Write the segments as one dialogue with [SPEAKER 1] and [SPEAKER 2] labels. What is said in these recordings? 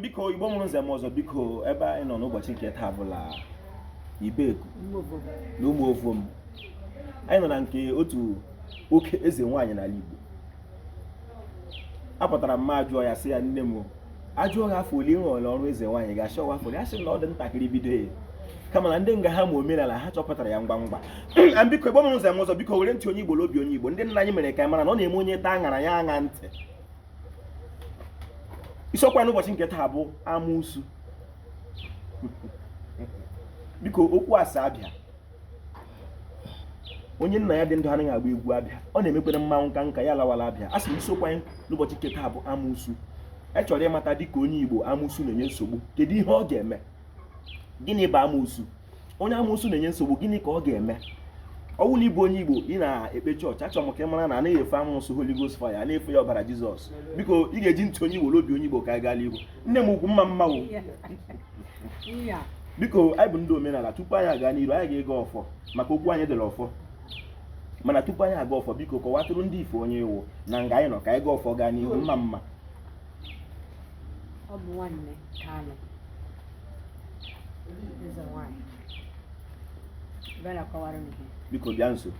[SPEAKER 1] biko igbo mụrụ nze mụọ ọzọ biko ebe anyị nọ n'ụbọchị nke taa bụ ala ibeku na ụmụ ovom anyị nọ na nke otu oke eze nwaanyị n'ala igbo apụtara m ajụọ ya sị ya nne m ajụọ ha afọ ole ị rụọla ọrụ eze nwaanyị ga-achọ ọwa afọ ole a sị na ọ dị ntakịrị bido ya kama na ndị nga ha ma omenala ha chọpụtara ya ngwa ngwa na biko igbo mụrụ nze mụọ ọzọ biko were ntị onye igbo n'obi onye igbo ndị nna anyị mere ka anyị mara na ọ na-eme onye taa aṅara ya aṅa ntị isiokwu anyị n'ụbọchị nke taa bụ amụsu biko okwu asa abịa onye nna ya dị ndụ anaghị agba egwu abia ọ na-emekwere mmanwụ ka nka ya lawala abia a sị m isiokwu anyị n'ụbọchị nke taa bụ amụsu e chọrọ ịmata dịka onye Igbo amụsu na-enye nsogbu kedu ihe ọ ga-eme gịnị bụ amụsu onye amoosu na-enye nsogbu gịnị ka ọ ga-eme ọ wụ na ị bụ onye igbo ị na-ekpe chọọchị achọrọ m ka ị mara na anaghị efe amụsụ Holy Ghost fire a na-efe ya ọbara Jizọs biko ị ga-eji ntị onye igbo n'obi onye igbo ka anyị gaa n'ihu nne m ukwu mma mma wo biko anyị bụ ndị omenala tupu anyị aga n'iru anyị ga-agọ ọfọ maka okwu anyị dịrị ọfọ mana tupu anyị agọ ọfọ biko kọwatụrụ ndị ife onye ị wụ na nga anyị nọ ka anyị gọọ ọfọ gaa n'ihu mma mma
[SPEAKER 2] kanụ. Eze nwaanyị. Bịa kọwara unu. Biko bịa
[SPEAKER 1] nso.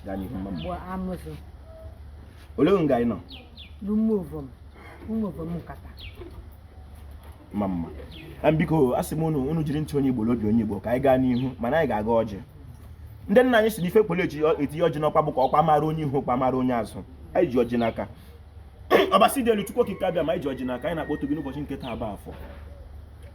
[SPEAKER 1] Gaa n'ihu mma mma. Bụ amụsụ. Olee nga anyị nọ. L'ụmụ
[SPEAKER 2] ovom. L'ụmụ ovom nkata.
[SPEAKER 1] Mma mma. Biko asị m unu unu jiri ntị onye Igbo l'obi onye Igbo ka anyị gaa n'ihu mana anyị ga-agọ ọjị ndị nna anyị sị n'ife kwere etinye ọjị n'ọkwa bụ ka ọkwa mara onye ihu ọkwa mara onye azụ anyị ji ọjị n'aka ọbasi dị elu chukwu okike abịama anyị ji ọjị n'aka anyị na-akpọtụ gị n'ụbọchị nke taa bụ afọ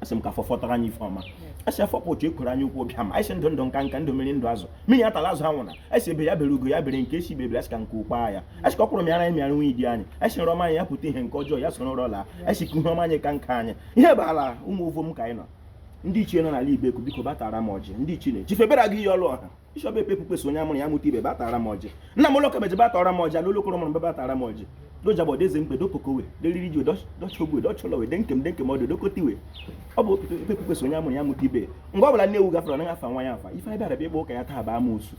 [SPEAKER 1] asị m ka afọ fọtara anyị ife ọma asị afọ kpọtụ eke orie na nkwọ bịa ma anyị ndụ ndụ nka nka ndụ mmiri ndụ azụ mmiri atala azụ anwụna asị egbe ya bere ugo ya bere nke sị ibe ebere asị ka nku kwaa ya asị ka ọkwụrụ mịara anyị mịara nwunye di anyị asị nrọ anyị ya pụta ihe nke ọjọọ ya soro nrọ laa asị ka ihe ọma anyị ka nka anyị ihe bụ ala ụmụ ovom ka anyị nọ ndị ichie nọ n'ala Ibeku biko bịa tara m ọjị ndị ichie na-ejife bera gị ihe ọlụ ọha bishọp ekpe kpukpesa onye amụrụ ya mụta ibe bịa tara m ọjị nna m ụlọka meje bịa tara m ọjị n'ụlọ okoro mụrụ mbe bịa tara m ọjị dojabọ deze mgbe dokokowe deriri ji dochogwe docholowe de nkem de nkem ọdụ dokotiwe ọ bụ ekpe kpukpesa onye amụrụ ya mụta ibe ebe ọ bụla nne ewu gafere anaghị afa nwa ya afa ife anyị bịara bịa ịgba ụka ya taa bụ amoosu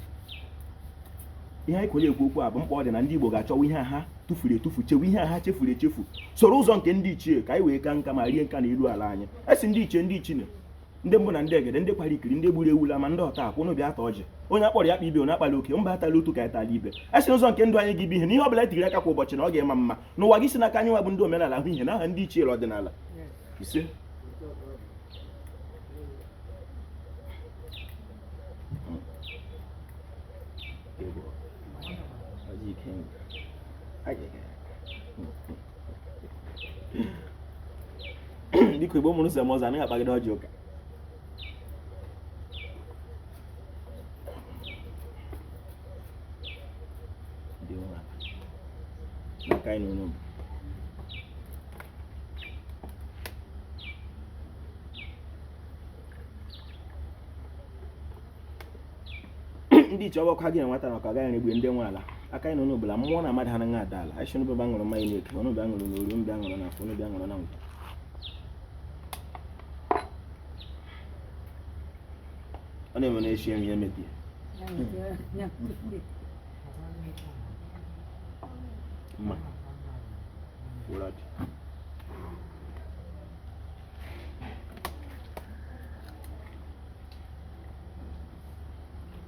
[SPEAKER 1] ihe anyị kwere ekwu okwu a bụ mkpa ọ dị na ndị Igbo ga-achọwa ihe ha tụfuru etufu chewe ihe ha chefuru echefu soro ụzọ nke ndị ichie ka anyị wee ka nka ma rie nka n'elu ala anyị asị ndị ichie ndị ichie ndị mbụ na ndị egede ndị kwara ikiri ndị gburu ewula ma ndị ọta akwụ unu bịa taa ọjị onye akpọrọ ya kpọọ ibe onye akpala oke mba atala otu ka etala ibe asị n'ụzọ nke ndụ anyị ga-abụ ihe na ihe ọbụla etigiri aka kwa ụbọchị na ọ ga-ama mma n'ụwa ga-esi n'aka anyị nwa bụ ndị omenala ahụ ihe na aha ndị ichie ọdịnala ise biko igbo mụrụ nze m ọzọ anaghị akpagide ọjị ụka maka anyị n'ụlọ bụ ndị ichie ọgbakwa gị enweta na ọka gaghị na-egbu ndị nwe ala aka anyị nọ n'obola mmụọ na mmadụ ha na ada ala anyị sị unu bịa ṅụrụ mmanya n'eke unu bịa ṅụrụ n'orie unu bịa ṅụrụ na afọ unu bịa ṅụrụ na nkwọ ọ na-eme na echi enyi ya mebie mma wụrụ ọjị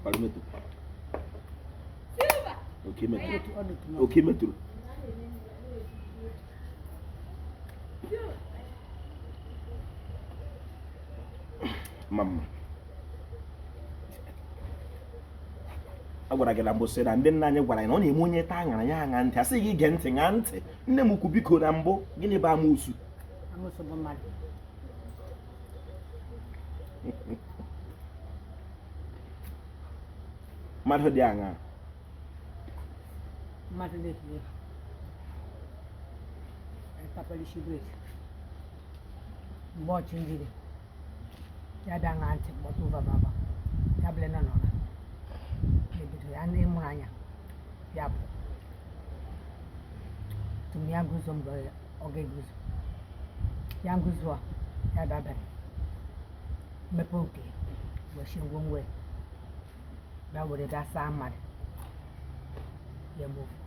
[SPEAKER 1] Palmetto. Okay, metro. Okay, metro. Mama. a gwara gị na mbụ sị na ndị nna anyị gwara anyị na ọ na-eme onye taa aṅara ya aṅa ntị a sị gị gee ntị ṅaa ntị nne m ukwu biko na mbụ gịnị bụ amụsu mmadụ dị aṅa mmadụ
[SPEAKER 2] na-etinye kapalishi brik mgbe ọchụ njiri ya bịa ṅaa ntị kpọtụ bababa ya bụle na nọra ebido ya ndị mụrụ anya ya bụ tụm ya gụzọ mbọ ya ọ ga-eguzo ya nguzo a ya dabere mmepe oke wechie ngwongwo ya bịa were bịa saa mmadụ ya mgbe ofu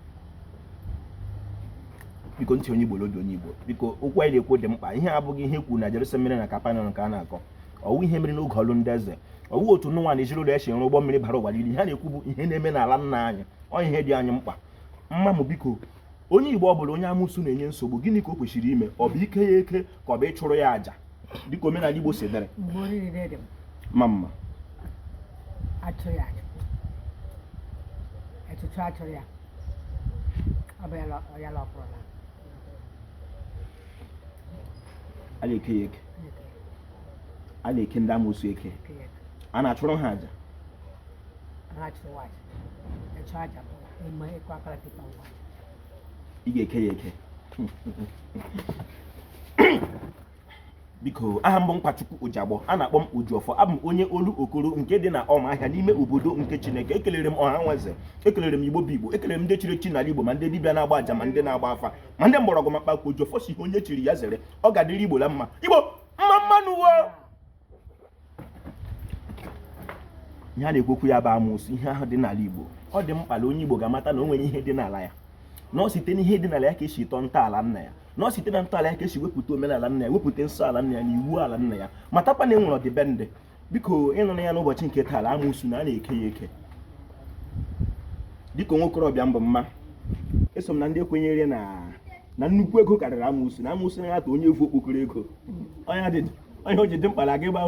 [SPEAKER 1] biko ntị onye igbo n'obi onye igbo biko okwu anyị na-ekwu dị mkpa ihe a abụghị ihe kwuru na Jerusalem mere na Kapanọm nke a na-akọ ọ wụ ihe mere n'oge ọlụ ndị eze ọ wụ otu Noa na ezinụlọ ya si rụọ ụgbọ mmiri bara ụwa niile ihe a na-ekwu bụ ihe na-eme n'ala nna anyị ọ ihe dị anyị mkpa mma m biko onye igbo ọ bụla onye amụsụ na-enye nsogbu gịnị ka o kwesịrị ime ọ bụ ike ya eke ka ọ bụ ịchụrụ ya aja dịka omenala igbo si dịrị
[SPEAKER 2] mama
[SPEAKER 1] a na-eke ya eke a na-eke ndị amụsụ eke a na-achụrụ ha aja ị ga-eke ya eke biko aha m bụ nkwachukwu ụjagbọ a na-akpọ m ojiọfọ abụ m onye olokoro nke dị na ọmaahịa n'ime obodo nke chineke ekelere m ọha nwe eze ekelere m igbo bụ igbo ekelere m ndị chiri chi n'ala igbo ma ndị dibịa na-agba aja ma ndị na-agba afa ma ndị mgbọrọgwụ ma mkpa akwụkwọ ojiọfọ sị ihe onye chiri ya zere ọ ga-adịrị igbo la mma igbo mma mma nụ wo ihe a na-ekwu okwu ya bụ amụsụ ihe ahụ dị n'ala Igbo ọ dị mkpa na onye Igbo ga-amata na o nwere ihe dị n'ala ya na ọ site n'ihe dị n'ala ya ka e si tọọ ntọala nna ya na ọ site na ntọala ya ka e si wepụta omenala nna ya wepụta nsọ ala nna ya na iwu ala nna ya matakwa na e nwere ọdịbendị biko ị nụla ya n'ụbọchị nke taa amụsụ na a na-eke ya eke dịka nwa okorobịa m bụ mụwa eso m na ndị kwenyere na na nnukwu ego karịrị amụsụ na amụsụ anaghị ata onye vu okpokoro ego onye adịdị ihe o ji dị mkpa na gị bụ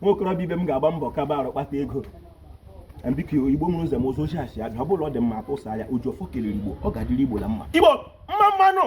[SPEAKER 1] nwa okorobịa ibe m ga-agba mbọ kaba arụ kpata ego biko igbo mụrụ ụzọ m ụzọ ochie asị abịa ọ bụrụ ọ dị mma atụsa ya ojiọfọ kelere igbo ọ ga-adịrị igbo na mma igbo mma mma nụ